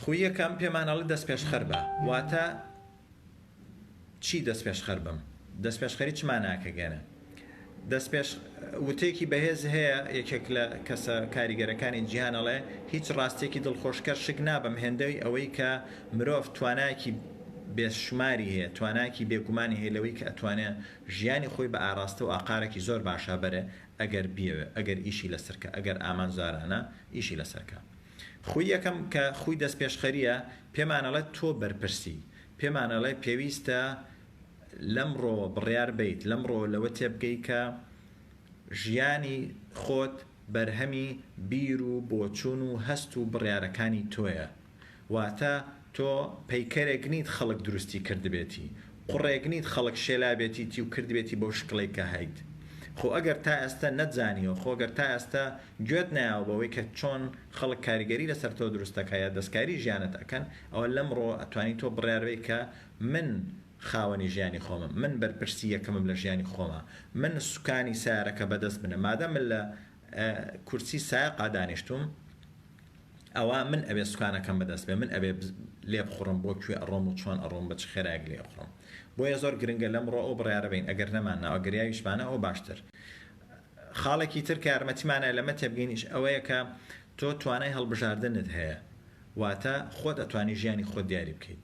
خوی یەکەم پێمانەڵی دەست پێشخەر بە واتە چی دەست پێشخەر بم دەست پێشخەری چماناکە گەنە دەستپێش وتەیەکی بەهێز هەیە، یەکێک لە کەسە کاریگەرەکانی جیهان ئەڵێ، هیچ ڕاستیەکی دڵخۆشکەر شک نابەم هێندەی ئەوەی کە مرۆڤ توانایەکی بێشوماری هەیە، توانایەکی بێگومانی هەیە لەوەی کە ئەتوانێ ژیانی خۆی بە ئاراستە و ئاقارەکی زۆر باشا بەرێ ئەگەر بیەوێ، ئەگەر ئیشی لەسەر کا، ئەگەر ئامانجارانە ئیشی لەسەر کا. خوی یەکەم کە خوی دەستپێشخەریە، پێمان ئەڵێ تۆ بەرپرسی، پێمان ئەڵێ پێویستە لەمڕۆ بڕیار بەیت، لەمڕۆ لەوە تێبگەی کە ژیانی خۆت بەرهەمی بیر و بۆچوون و هەست و بڕیارەکانی تۆیە. واتە تۆ پەیکەرێک نیت خەڵک دروستی کردبێتی، قوڕێک نیت خەڵک شێلابێتیتی و کردبێتی بەو شکڵەی کە هەیت. خۆ ئەگەر تا ئێستە نەتزانیوە، خۆ گەر تا ئێستە گوێت نەیاوە بەوەی کە چۆن خەڵک کاریگەری لەسەر تۆ دروست ئەکا یا دەستکاری ژیانت ئەکەن، ئەوە لەمڕۆ ئەتوانی تۆ بڕیار بەی کە من خاوەنی ژیانی خۆمم، من بەرپرسی یەکەمم لە ژیانی خۆما، من سوکانی سەیارەکە بەدەست منە، مادام من لە کورسی سایەقا دانیشتووم ئەوا من ئەبێ سوکانەکەم بەدەست بێ، من ئەبێ لێبخوڕم بۆ کوێ ئەڕۆم و چۆن ئەڕۆم بە چ خێرایەک لێ ئەخوڕم، بۆیە زۆر گرنگە لەمڕۆ ئەو بڕیارە بین ئەگەر نەماننا و ئەگەر یاویشمانە ئەوە باشتر. خاڵێکی تر کە یارمەتیمانە لەمە تێبگەینیش ئەوەیە کە تۆ توانای هەڵبژاردنت هەیە، واتە خۆت ئەتوانی ژیانی خۆت دیاری بکەیت،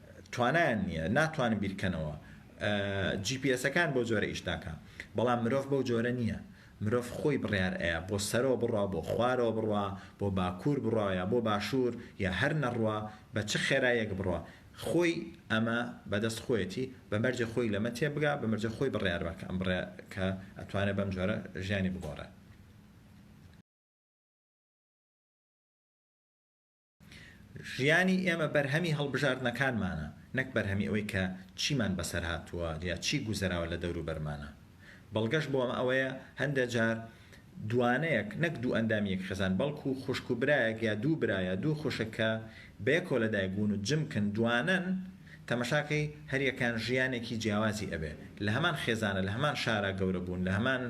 توانایان نیە ناتوانن بیرکەنەوە جی پی ئێسەکان بەو جۆرە ئیش ناکا بەڵام مرۆڤ بەو جۆرە نیە مرۆڤ خۆی بڕیار ئەیا بۆ سەرەوە بڕوا بۆ خوارەوە بڕوا بۆ باکور بڕوا یا بۆ باشور یا هەر نەڕوا بە چ خێرایەک بڕوا خۆی ئەمە بەدەست خۆیەتی بە مەرجێ خۆی لەمە تێبگا بە مەرجێ خۆی بڕیار بە کە بڕێ کە ئەتوانێ بەم جۆرە ژیانی بگۆڕێ. ژیانی ئێمە بەرهەمی هەڵبژاردنەکانمانە، نەک بەرهەمی ئەوەی کە چیمان بەسەر هاتووە یا چی گوزەراوە لە دەوروبەرمانا. بەڵگەش بۆ ئەمە ئەوەیە هەندێ جار دووانەیەک، نەک دوو ئەندامی یەک خێزان، بەڵکوو خوشک و برایەک یا دوو برا یا دوو خوشک کە بەیەکەوە لە دایک بوون و جمکن دووانەن، تەمەشاکەی هەر یەکەیان ژیانێکی جیاوازی ئەبێ. لە هەمان خێزانە، لە هەمان شارا گەورە بوون، لە هەمان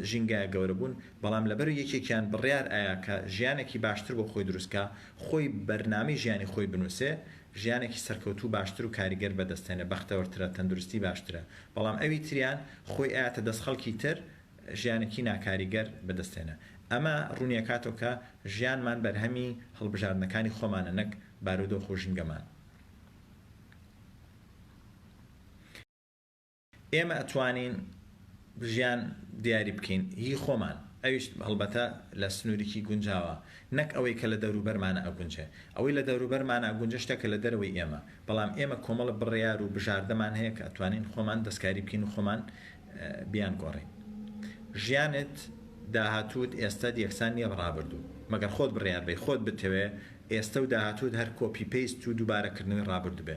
ژینگایا گەورە بوون، بەڵام لەبەر یەکێکیان بڕیار ئەیا کە ژیانێکی باشتر بۆ خۆی دروست کا، خۆی بەرنامەی ژیانی خۆی بنووسێ، ژیانێکی سەرکەوتوو باشتر و کاریگەر بەدەستێنێ، بەختەوەرترە، تەندروستی باشترە، بەڵام ئەوی تریان خۆی ئەیاتە دەست خەڵکی تر، ژیانێکی ناکاریگەر بەدەستێنێ. ئەمە ڕوونی ئەکاتەوە کە ژیانمان بەرهەمی هەڵبژاردنەکانی خۆمانە نەک بارودۆخ و ژینگەمان. ئێمە ئەتوانین ژیان دیاری بکەین هی خۆمان ئەویش هەڵبەتە لە سنوریکی گونجاوە نەک ئەوەی کە لە دەوروبەرمانە ئەگونجێ ئەوەی لە دەوروبەرمانە ئەگونجێ شتێکە لە دەرەوەی ئێمە بەڵام ئێمە کۆمەڵە بڕیار و بژاردەمان هەیە کە ئەتوانین خۆمان دەستکاری بکەین و خۆمان بیان گۆڕین ژیانت داهاتووت ئێستەت یەکسان نییە بە ڕابردوو مەگەر خۆت بڕیار بەی خۆت بتەوێ ئێستە و داهاتووت هەر کۆپی پەیست و دووبارەکردنەوەی ڕابردوو بێ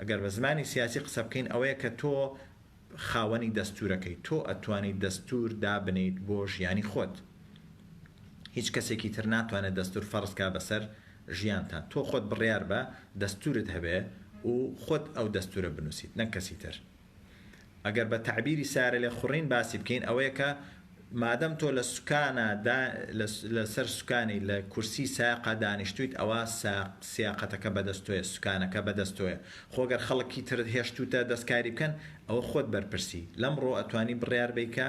ئەگەر بە زمانی سیاسی قسە بکەین ئەوەیە کە تۆ خاوەنی دەستوورەکەی، تۆ ئەتوانیت دەستوور دابنێیت بۆ ژیانی خۆت. هیچ کەسێکی تر ناتوانێت دەستوور فەرز کا بەسەر ژیانتا. تۆ خۆت بڕیار بە، دەستوورت هەبێ و خۆت ئەو دەستوورە بنووسیت نەک کەسی تر. ئەگەر بە تەعبیری سیارەلێخوڕین باسی بکەین ئەوەیە کە مادەم تۆ لە سوکانە دا لە لە سەر سوکانی لە کورسی سایەقا دانیشتوویت ئەوا ساق سیاقەتەکە بە دەست تۆیە سوکانەکە بە دەست تۆیە خۆ گەر خەڵکی ترت هێشتووتە دەستکاری بکەن ئەوە خۆت بەرپرسی لەمڕۆ ئەتوانی بڕیار بەی کە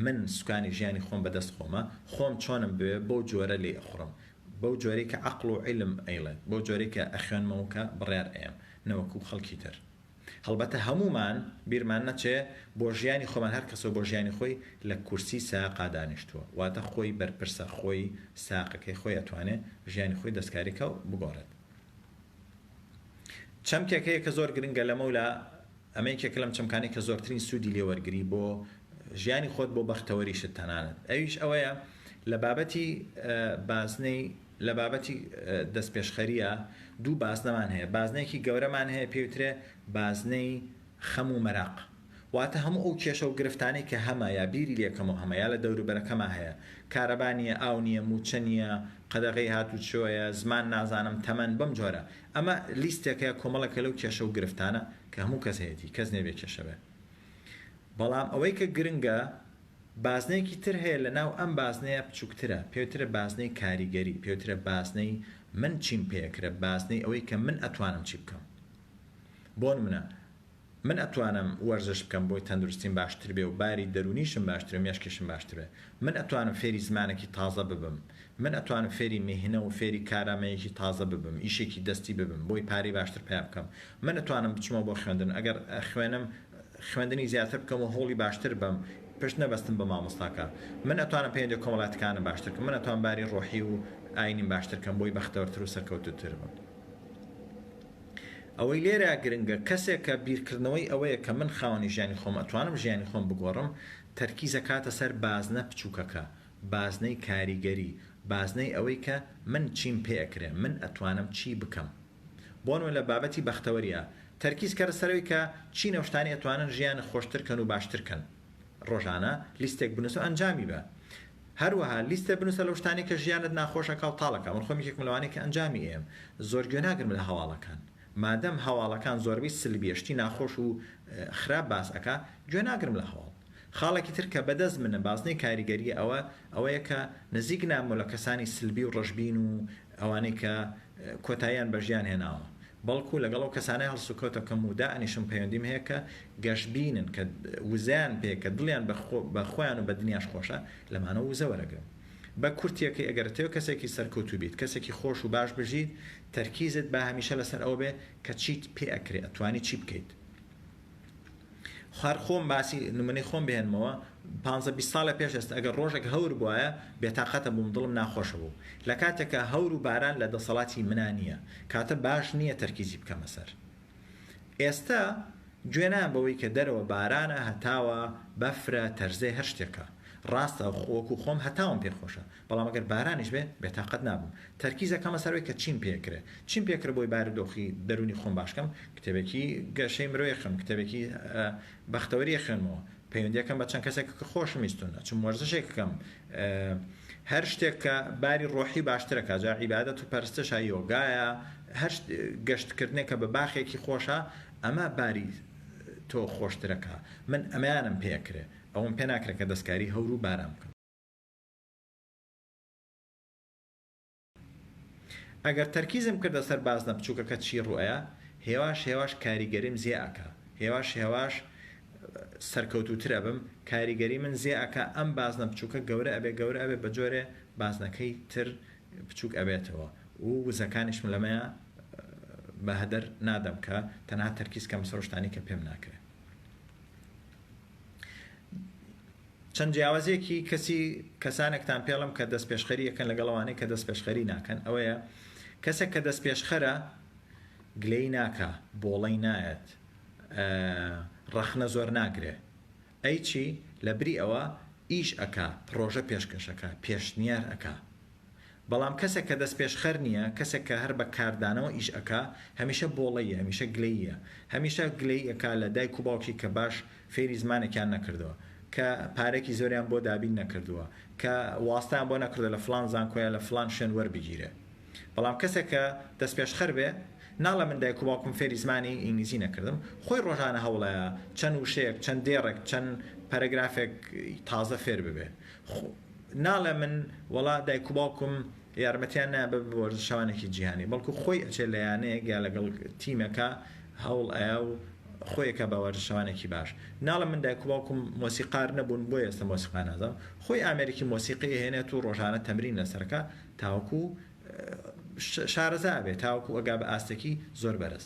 من سوکانی ژیانی خۆم بە دەست خۆمە خۆم چۆنم بوێ بەو جۆرە لێی ئەخوڕم بەو جۆرەی کە عەقڵ و عیلم ئەیڵێت بەو جۆرەی کە ئەخوێنمەوە کە بڕیار ئەیەم نەوەکوو خەڵکی تر. هەڵبەتە هەموومان بیرمان نەچێ بۆ ژیانی خۆمان هەر کەسەو بۆ ژیانی خۆی لە کورسی ساقا دانیشتووە واتە خۆی بەرپرسە خۆی ساقەکەی خۆی ئەتوانێ ژیانی خۆی دەستکاری کەو بگۆڕێت چەمکێک هەیە کە زۆر گرنگە لەمە و لە ئەمە یەکێکە لەم چەمکانەی کە زۆرترین سوودی لێ وەرگری بۆ ژیانی خۆت بۆ بەختەوەریشت تەنانەت ئەویش ئەوەیە لە بابەتی بازنەی لە بابەتی دەستپێشخەرییە دوو بازنەمان هەیە، بازنەیەکی گەورەمان هەیە پێی وترێ بازنەی خەم و مەراق، واتە هەموو ئەو کێشە و گرفتانەی کە هەمە یا بیری لێ کەمو هەمە یا لە دەوروبەرەکەما هەیە، کارەبا نییە، ئاو نییە، مووچە نییە، قەدەغەی هاتوچۆیە، زمان نازانم، تەمەن، بەم جۆرە. ئەمە لیستێکە، کۆمەڵێکە لەو کێشە و گرفتانە کە هەموو کەس هەیەتی، کەس نییە بێ کێشە بێ. بەڵام ئەوەی کە گرنگە. بازنەیەکی تر هەیە لەناو ئەم بازنەیە بچوکترە پێوترە بازنەی کاریگەری پێوترە بازنەی من چیم پێکرە بازنەی ئەوەی کە من ئەتوانم چی بکەم بۆ نمونە من ئەتوانم وەرزش بکەم بۆی تەندروستیم باشتر بێ و باری دەرونیشم باشتر و مێشکیشم باشتر بێ من ئەتوانم فێری زمانەکی تازە ببم من ئەتوانم فێری میهنە و فێری کارامەیەکی تازە ببم ئیشێکی دەستی ببم بۆی پارەی باشتر پەیا بکەم من ئەتوانم بچمەوە بۆ خوێندن ئەگەر خوێنم خوێندنی زیاتر بکەم و هەوڵی باشتر بەم پشت نەبەستم بە مامۆستاکە من ئەتوانم پەیوەندی کۆمەڵاتکانم باشتر کەم من ئەتوانم باری ڕۆحی و ئاینیم باشتر کەم بۆی بەختەوەرتر و سەرکەوتوتر بم ئەوەی لێرە گرنگە کەسێک کە بیرکردنەوەی ئەوەیە کە من خاوەنی ژیانی خۆم ئەتوانم ژیانی خۆم بگۆڕم تەرکیز ئەکاتە سەر بازنە بچوکەکە بازنەی کاریگەری بازنەی ئەوەی کە من چیم پێ ئەکرێ من ئەتوانم چی بکەم بۆنمونە لە بابەتی بەختەوەریا تەرکیز کە رسەرەوەی کە چی نەوشتانی ئەتوانن ژیان خۆشتر کەن و باشتر کەن رۆژانە لیستێک بنوسە و ئەنجامی بە هەروەها لیستە بنوسە لەو شتانەی کە ژیانت ناخۆش ئەکا و تاڵ ئەکا من خۆم یەکێکم لەوانەی کە ئەنجامی ئەیەم زۆر گوێ ناگرم لە هەواڵەکان مادەم هەواڵەکان زۆربەی سلبیە شتی ناخۆش و خراپ باس ئەکا گوێ ناگرم لە هەواڵ خاڵێکی تر کە بەدەست منە بازنەی کاریگەریە ئەوە ئەوەیە کە نزیک ناممەوە لە کەسانی سلبی و رەشبین و ئەوانەی کە کۆتاییان بە ژیان هێناوە، بەڵکو لەگەڵ ئەو کەسانەی هەڵسوکەوت ئەکەم و دائەنیشم پەیوەندیم هەیە کە گەشبینن، کە وزەیان پێیە، کە دڵیان بە خۆیان و بە دنیاش خۆشە، لەمانەوە وزە وەرەگرم. بە کورتییەکەی، ئەگەر دەتەوێت کەسێکی سەرکەوتوو بیت، کەسێکی خۆش و باش بژیت، تەرکیزت با هەمیشە لەسەر ئەوە بێت کە چیت پێ ئەکرێ، ئەتوانی چی بکەیت. هەر خۆم باسی نمونەی خۆم بهێنمەوە پانزە بیست ساڵە پێش ئێستا ئەگەر ڕۆژێک هەور بوایە بێتاقەتە بووم دڵم ناخۆشە بوو لە کاتێکا هەور و باران لە دەسەڵاتی منا نییە کاتە باش نییە تەرکیزی بکەمە سەر ئێستا گوێ نایەم بەوەی کە دەرەوە بارانە هەتاوە بەفرە تەرزەی هەر شتێکە ڕاستە وەکو خۆم هەتاوم پێخۆشە بەڵام ئەگەر بارانیش بێ بێتاقەت نابم تەرکیز ئەکەمە سەر ئەوەی کە چیم پێ کرێ چیم پێ کرێ بۆی بارودۆخی دەرونی خۆم باش کەم کتێبێکی گەشەی مرۆی ئەخوێنم کتێبێکی بەختەوەری ئەخوێنمەوە پەیوەندی ئەکەم بە چەند کەسێک کە خۆشم ویستون ئەچم وەرزشێک بکەم هەر شتێک کە باری ڕۆحی باشتر ئەکا جا عیبادەت و پەرستشە یۆگایە هەر گەشتکردنێک کە بە باخێکی خۆشە ئەمە باری تۆ خۆشترەکە من ئەمەیانم پێ کرێ ئەوم پێ ناکرێ کە دەستکاری هەور و باران بکەم ئەگەر تەرکیزم کردە سەر بازنە بچووکەکە چی ڕوئەیا هێواش هێواش کاریگەریم زێ ئەکا هێواش هێواش سەرکەوتوتر ئەبم کاریگەری من زێ ئەکا ئەم بازنە بچووکە گەورە ئەبێ گەورە ئەبێ بە جۆرێ بازنەکەی تر بچووک ئەبێتەوە و وزەکانیشم لەمەیە بەهەدەر نادەم کە تەنها تەرکیز کەم سەرشتانی کە پێم ناکرێت چەند جیاوازیەکی کەسی کەسانێکتان پێڵم کە دەست پێشخەری یەکەن لەگەڵ ئەوانەی کە دەست پێشخەری ناکەن ئەوەیە کەسێک کە دەست پێشخەرە گلەی ناکا بۆڵەی نایەت ڕەخنە زۆر ناگرێ ئەی چی لە بری ئەوە ئیش ئەک پرۆژە پێشکەشەکە پێشنیار ئەک بەڵام کەسێک کە دەستپێشخەر نیە، کەسێک کە هەر بە کاردانەوە ئیش ئەکا، هەمیشە بۆڵەییە، هەمیشە گلەییە. هەمیشە گلەیی ئەکا لە دایک و باوکی کە باش فێری زمانێکیان نەکردووە، کە پارەیەکی زۆریان بۆ دابین نەکردووە، کە واستەیان بۆ نەکردووە لە فڵان زانکۆ یا لە فڵان شوێن وەربگیرێ. بەڵام کەسێک کە دەستپێشخەر بێ، ناڵێ من دایک و باوکم فێری زمانی ئینگلیزی نەکردم، خۆی ڕۆژانە هەوڵەیە چەند وشەیەک، چەند دێڕێک، چەند پەرەگرافێک تازە فێر ببێ. ناڵێ من وەڵا دایک و باوکم یارمەتیان نایە بە وەرزشەوانێکی جیهانی بەڵکو خۆی ئەچێ لە یانەیەک یا لەگەڵ تیمەکە هەوڵ ئەیا و خۆی ئەکا بە وەرزشەوانێکی باش ناڵێ من دایک و باوکم مۆسیقار نەبوون بۆیە ئێستا مۆسیقا نازانم خۆی ئامێرێکی مۆسیقی ئەهێنێت و ڕۆژانە تەمرین لەسەر ئەکا تاوەکو شارەزا ئەبێ تاوەکو ئەگا بە ئاستێکی زۆر بەرز.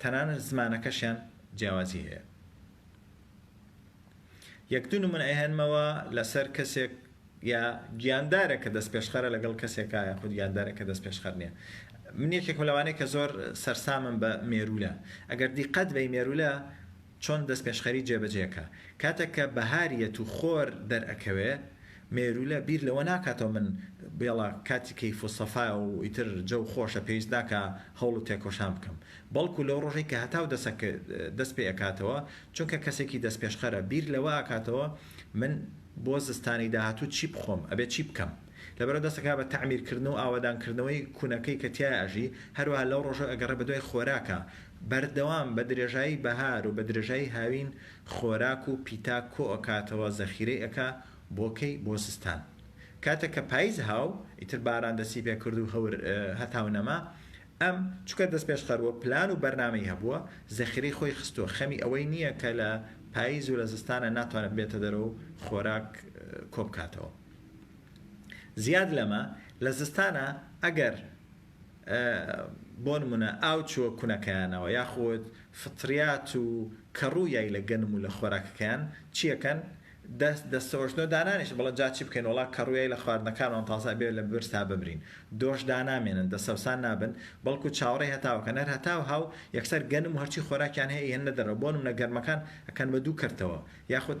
تەنانەت زمانەکەشیان جیاوازی هەیە یەک دوو نمونە ئەهێنمەوە لەسەر کەسێک یا گیاندارێک کە دەست پێشخەرە لەگەڵ کەسێکە یاخود گیاندارێک کە دەست پێشخەر نییە من یەکێکم لەوانەیە کە زۆر سەرسامم بە مێرولە ئەگەر دیقەت بەی مێرولە چۆن دەستپێشخەری جێبەجێکە؟ کاتێک کە بەهار یەت و خۆر دەرئەکەوێ، مێروولە بیر لەوە ناکاتەوە من بێڵا کاتی کەیف و سەفایە و ئیتر جەو خۆشە پێویست ناکا هەوڵ و تێکۆشان بکەم. بەڵکوو لەو ڕۆژەی کە هەتاو دەست پێ ئەکاتەوە، چونکە کەسێکی دەستپێشخەرە، بیر لەوە ئەکاتەوە من بۆ زستانی داهاتوو چی بخۆم، ئەبێ چی بکەم؟ لەبەرئەوە دەست ئەکا بە تەعمیر کردن و ئاوەدان کردنەوەی کونەکەی کە تیایا ئەژی، هەروەها لەو ڕۆژەو ئەگەڕێ بەدوای خۆراکا، بەردەوام بە درێژایی بەهار و بە درێژایی هاوین خۆراک و پیتاک کۆ ئەکاتەوە زەخیرەی ئەکا بۆ کەی بۆ زستان کاتێک کە پایز هاو ئیتر باران دەستی پێ کردو هەور هەتاو نەما ئەم چونکە دەستپێشخەر و پلان و بەرنامەی هەبووە زەخیرەی خۆی خستووە خەمی ئەوەی نییە کە لە پایز و لە زستانا ناتوانێت بێتە دەرەوەو خۆراک کۆ بکاتەوە. زیاد لەمە لە زستانا ئەگەر بۆ نمونە ئاو چووە کونەکەیانەوە یاخود فطریات و کەڕوو یای لە گەنم و لە خۆراکەکەیان چیەکەن دەست دەستەوەشنۆ دانانیش بڵێن جا چی بکەین وڵا کەڕوویای لە خواردنەکانمان تازە بێ لە برس تا بمرین دۆش دانامێنن دەسەوسان نابن بەڵکو چاوەڕێ هەتاوەکەن هەر هەتاو هاو یەکسەر گەنم و هەرچی خۆراکیان هەیە ئەیهێننە دەرەوە بۆ نمونە گەرمەکان ئەکەن بە دوو کەرتەوە یاخود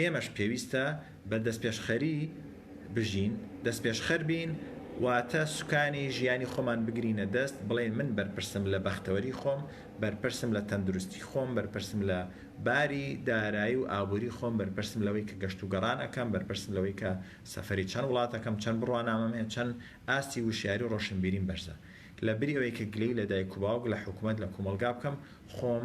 ئێمەش پێویستە بە دەستپێشخەری بژین، دەستپێشخەر بین، واتە سوکانی ژیانی خۆمان بگرینە دەست، بڵێین من بەرپرسم لە بەختەوەری خۆم، بەرپرسم لە تەندروستی خۆم، بەرپرسم لە باری دارایی و ئابووری خۆم، بەرپرسم لەوەی کە گەشت و گەڕان ئەکەم، بەرپرسم لەوەی کە سەفەری چەند وڵات ئەکەم، چەند بڕوانامەم هەیە، چەند ئاستی وشیاری و ڕۆشنبیریم بەرزە. لە بری ئەوەی کە گلەیی لە دایک و باوک، لە حکوومەت، لە کومەڵگا بکەم، خۆم،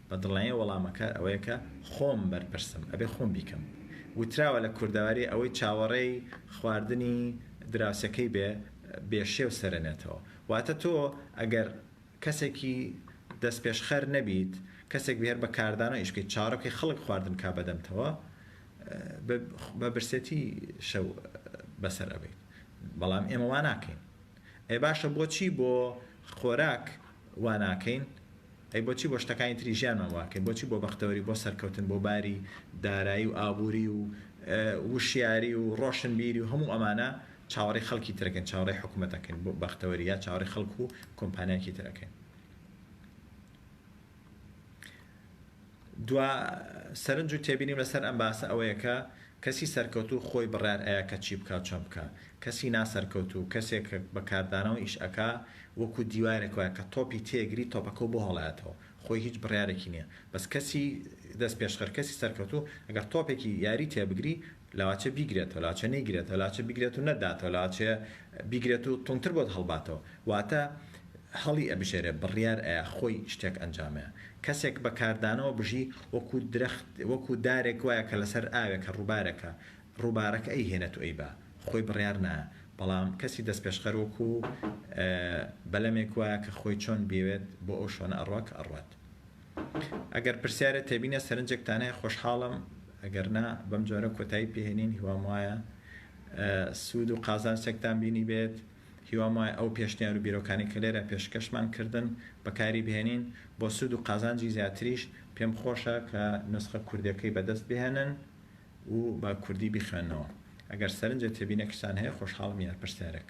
بەدڵنیایی وەڵامەکە ئەوەیە کە خۆم بەرپرسم، ئەبێ خۆم بیکەم. وتراوە لە کوردەواری ئەوەی چاوەڕێی خواردنی دراوسێکەی بێ، بێ شێو سەرەنێتەوە. واتە تۆ ئەگەر کەسێکی دەستپێشخەر نەبیت، کەسێک بی هەر بە کاردانەوە ئیش بکەیت، چاوەڕێ بکەیت خەڵک خواردن بکات بەدەمتەوە، بە برسێتی شەو بەسەر ئەبەیت. بەڵام ئێمە وا ناکەین. ئەی باشە بۆچی بۆ خۆراک واناکەین؟ ئەی بۆچی بۆ شتەکانی تری ژیانمان واکەین؟ بۆچی بۆ بەختەوەری، بۆ سەرکەوتن، بۆ باری دارایی و ئابووری و وشیاری و ڕۆشنبیری و هەموو ئەمانە چاوەڕێی خەڵکی تر ئەکەین، چاوەڕێی حکومەت ئەکەین بۆ بەختەوەری یا چاوەڕێی خەڵک و کۆمپانیایەکی تر ئەکەین؟ دوا سەرنج و تێبینیم لەسەر ئەم باسە ئەوەیە کە کەسی سەرکەوتوو خۆی بڕیار ئەیا کە چی بکا و چەند بکا. کەسی ناسەرکەوتوو کەسێک کە بە کاردانەوە ئیش ئەکا وەکوو دیوارێک وایە کە تۆپی تێ گری تۆپەکەو بۆ هەڵایەتەوە خۆی هیچ بڕیارێکی نیە بەس کەسی دەست پێشخەر کەسی سەرکەوتوو ئەگەر تۆپێکی یاری تێ بگری لاچە بیگرێتەوە، لاچە نەیگرێتەوە، لاچە بیگرێت و نەتداتەوە، لاچە بیگرێت و توندتر بۆت هەڵباتەوە. واتە هەڵی ئەبژێرێ، بڕیار ئەیا، خۆی شتێک ئەنجامەیە. کەسێک بە کاردانەوە بژی، وەکو درەخت، وەکو دارێک وایە کە لەسەر ئاوێکە، ڕووبارێکە، ڕووبارەکە ئەیهێنێت و ئەیبا، خۆی بڕیار نایە. بەڵام کەسی دەستپێشخەر وەکو بەلەمێک وایە کە خۆی چۆن بیەوێت بۆ ئەو شوێنە ئەڕوا کە ئەڕوات. ئەگەر پرسیارت هەبینە سەرنجێک تانای خۆشحاڵم ئەگەر نا بەم جۆرە کۆتایی پێهێنین هیوام وایە سوود و قازانچێکتان بینی بێت هیوام وایە ئەو پێشنیار و بیرۆکانی کە لێرە پێشکەشمان کردن بەکاری بهێنین بۆ سوود و قازانجی زیاتریش پێم خۆشە کە نوسخە کوردیەکەی بەدەست بهێنن و بە کوردی بیخوێننەوە ئەگەر سەرنجت هەبینە کچان هەیە خۆشحاڵم یار پرسیارێک